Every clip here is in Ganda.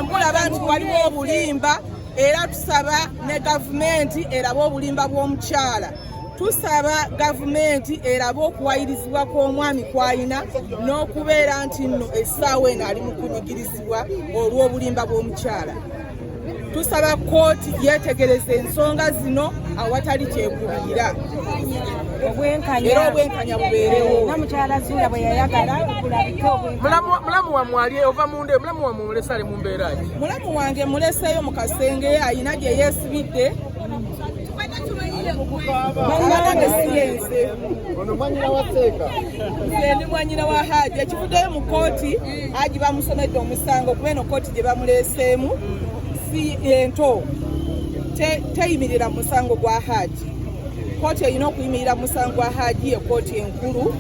Mulaba nti waliwo obulimba era tusaba ne gavumenti erabe obulimba bw'omukyala tusaba gavumenti erabe okuwayirizibwa kw'omwami kwalina n'okubeera nti nno essaawa eno ali mu kunyigirizibwa olw'obulimba bw'omukyala tusaba kkooti yeetegereza ensonga zino awatali kyekubiira era obwenkanya bubeerewo mulamu wamwali ova munda mulamu Mulesa ali mu mbeera ki? Mulamu wange muleseeyo mu kasenge alina gye yeesibidde ndi mwanyina wa haji ekivuddeyo mu kooti haji bamusomedde omusango kuba eno kooti gye bamuleeseemu si ento teyimirira mu musango gwa haji kooti erina okuyimirira mu musango gwa haji ye kooti enkulu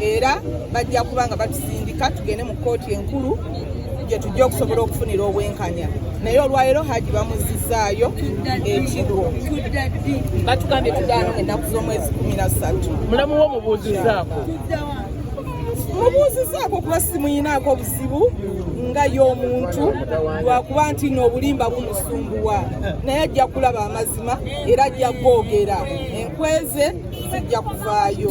era bajja kuba nga batusindika tugende mu kooti enkulu gye tujja okusobola okufunira obwenkanya naye olwaleero haji bamuzizaayo ekigo batugambye tudaano ngaennaku z'omwezi kumi na ssatu mulamu wo mubuuzizaako mubuuzizaako kuba simuyinaako obuzibu nga y'omuntu lwakuba nti noobulimba bumusumbuwa naye ajja kulaba amazima era ajja googera enkweze zijja kuvaayo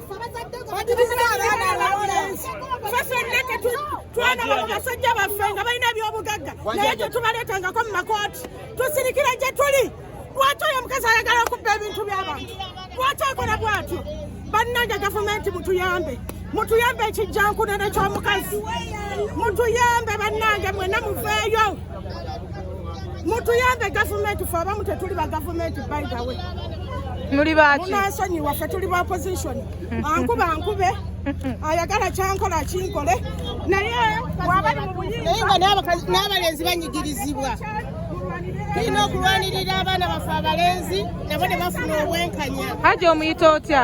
batiriza abaana abalenzi fe fenna twagala mu basajja baffe nga balina ebyobugagga naye tetubaleetangako mu makooti tusirikira gye tuli lwaki oyo omukazi ayagala okubba ebintu by'abantu lwaki akola bwatyo bannange gavumenti mutuyambe mutuyambe ekijjankunene ky'omukazi mutuyambe bannange mwena muveeyo mutuyambe gavumenti fe abamu tetuli ba gavumenti by the way muli baki munasonyiwa fe tuli ba opposition hmm. ankuba ankube ayagala kyankola kinkole naye wabali mubuyinza n'abalenzi banyigirizibwa tulina okulwanirira abaana baffe abalenzi nabo ne bafuna obwenkanya haji omuyita otya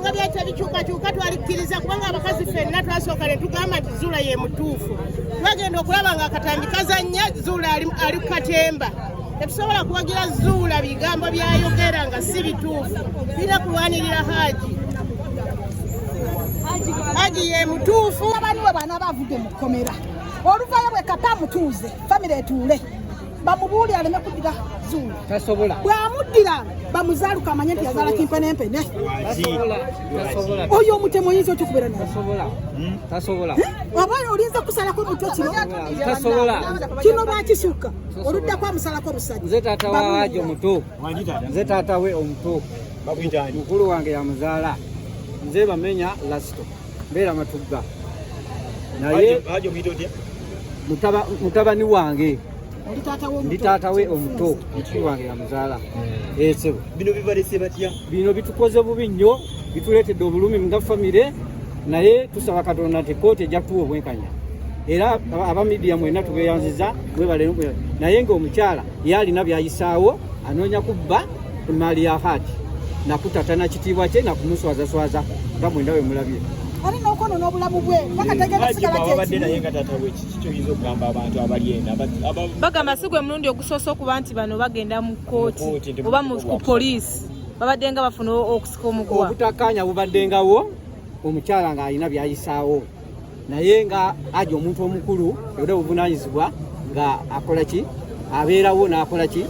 nga byajja bikyukakyuka twalikkiriza kubanga abakazi fenna twasooka ne tugamba nti zuula ye mutuufu twagenda okulaba nga akatambi kazannya zuula ali ku katemba tetusobola kuwagira zuula bigambo byayogera nga si bituufu tulina kulwanirira haaji haaji ye mutuufu abani we baana bavudde mu kkomera oluvaayo bwe kata amutuuze famire etuule bamubuuli aleme kuddira zuula tasobola bwamuddira bamuzaaluka amanye nti yazaala kimpe nempene oyo omutemu oyinza otya okubeera naye tasobola hmm? oba olinza kusalako omutwe kino tasobola kino bakisukka oluddako amusalako omusajja nze taata wawajo omuto nze taata we omuto mukulu wange yamuzaala nze bamenya lasito mbeera matugga naye mutabani wange ndi taata we omuto mukiri wange yamuzaala hmm. esebo eh, bino bibalese batya bino bitukoze bubi nnyo bituleetedde obulumi nga famire naye tusaba katonda nti kooti ejja kutuwa obwenkanya era aba midiya mwena tubeyanziza mwebale naye ngaomukyala yalina byayisaawo anoonya kubba mali ya hati nakutata na kitiibwa kye nakumuswazaswaza nga mwenda we mulabye ali nokwonona obulamu bwe bakategeabadde naye nga tata we kiki kyoyinza okugamba abantu abali ena bagamba si gwe mulundi ogusoose okuba nti bano bagenda mu kooti oba ku poliisi babaddenga bafuna okusika omuguwa obutakkaanya bubaddengawo omukyala ng'alina byayisaawo naye nga aja omuntu omukulu era obuvunanyizibwa nga akola ki abeerawo n'akola ki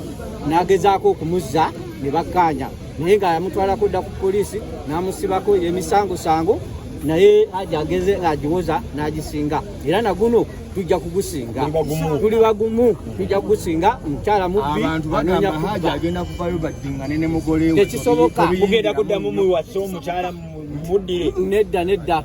n'agezaako okumuzza ne bakkaanya naye nga yamutwalako dda ku poliisi n'amusibako emisangosango naye aja ageze ng'agiwoza n'agisinga era naguno tujja kugusinga tuli bagumu tujja kugusinga mukyala mubbi anoonya kubatekisoboka mugenda kuddamu muwasa omukyala muddire nedda nedda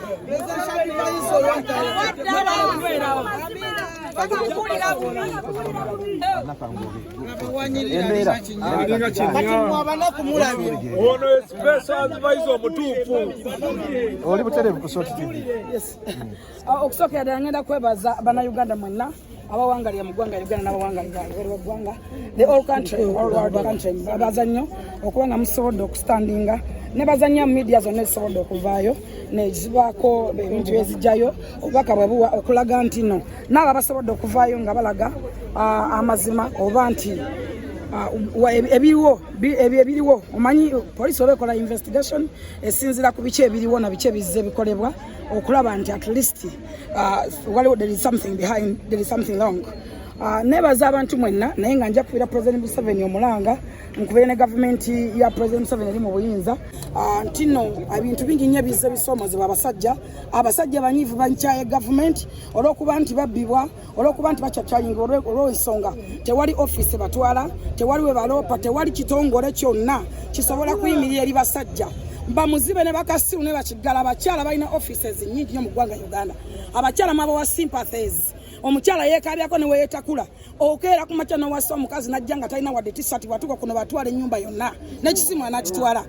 ono esipesa advise omutuufu oli buterevu kusooka ah, okusokera ddala ngenda kwebaza bannayuganda mwenna abawangalira mu ggwanga uganda n'abawangalira ebweru weggwanga the all country all world country babaza nnyo okuba nga musobodde okustandinga ne bazannya mu media zonna ezisobodde okuvaayo nezibaako ebintu ezijjayo obubaka bwe buwa okulaga nti no naabo abasobodde okuvaayo nga balaga ah, amazima oba nti Ah, ebiriwo ebyo ebiriwo omanyi poliisi oba ekola investigation esinzira ku biki ebiriwo na biki ebizze bikolebwa okulaba nti at least Uh, waliwo there is something behind there is something wrong uh, nebaza abantu mwenna naye nga nja kubeera president museveni omulanga nkubeere ne gavumenti ya president museveni eri mu buyinza uh, nti no ebintu bingi nnyo ebize bisoomozebwa abasajja abasajja banyiivu bankyaye gavumenti olw'okuba nti babbibwa olwokuba nti bakyakyalinga olwensonga tewali ofiisi batwala tewali we baloopa tewali kitongole kyonna kisobola kuyimirira eri basajja bamuzibe ne bakasiru ne bakiggala abakyala balina offices nyingi nyo mu ggwanga uganda abakyala mwaba wa sympathies omukyala yekabyako neweyetakula okeera ku makya nowasa omukazi najja nga talina wadde tisati watuka kuno batwala ennyumba yonna nekisimu anakitwala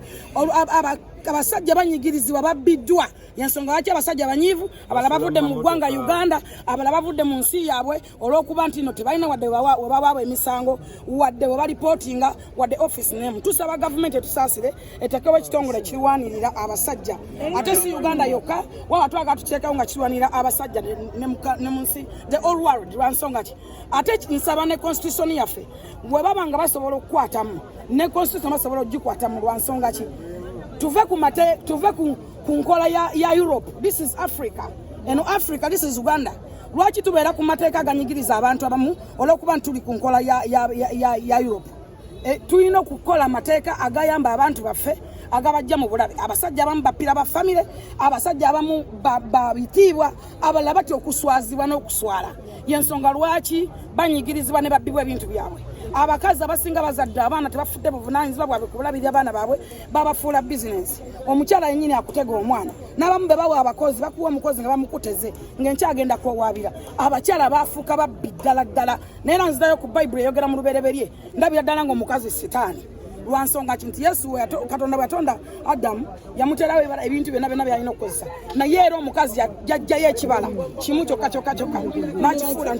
abasajja banyigirizibwa babbiddwa yensonga lwaki abasajja abanyiivu abala bavudde mu ggwanga uganda abala bavudde mu nsi yaabwe olw'okuba nti no tebalina wadde webawaabwe emisango wadde webalipootinga wadde office name tusaba gavumenti etusaasire etekewo ekitongole kirwanirira abasajja ate si uganda yokka waba twaga tuteekawo nga kirwanirira abasajja ne mu nsi the all world lwansonga ki ate nsaba ne constitution yaffe webaba nga basobola okukwatamu ne constitution basobola okugikwatamu lwansonga ki tuve ku mate tuve ku ku nkola ya, ya Europe. This is Africa. Eno Africa, this is Uganda. Lwaki tubeera ku mateeka aganyigiriza abantu abamu olw'okuba ntuli ku nkola ya, ya, ya, ya, ya Europe. E, tulina okukola amateeka agayamba abantu baffe agabajja mu bulabe abasajja abamu bapira ba famire abasajja abamu babitiibwa abalala batya okuswazibwa n'okuswala yensonga lwaki banyigirizibwa ne babbibwa ebintu byabwe abakazi abasinga bazadde abaana tebafudde buvunanyizibwa bwabwe kubulabirira abaana baabwe babafuula bizinensi omukyala yenyini akutega omwana n'abamu be bawa abakozi bakuwa omukozi nga bamukuteze ng'enkyagenda kuwawaabira abakyala baafuuka babbi ddala ddala naye era nzidayo ku bayibuli eyogera mu lubereberye ndabira ddala ng'omukazi sitaani lwansonga ki nti yesu katonda bwatonda adamu yamuterawo ebala ebintu byona byona byalina okukozesa naye era omukazi yajjayo ekibala kimu kyokka kyokka kyokka nakifuula nti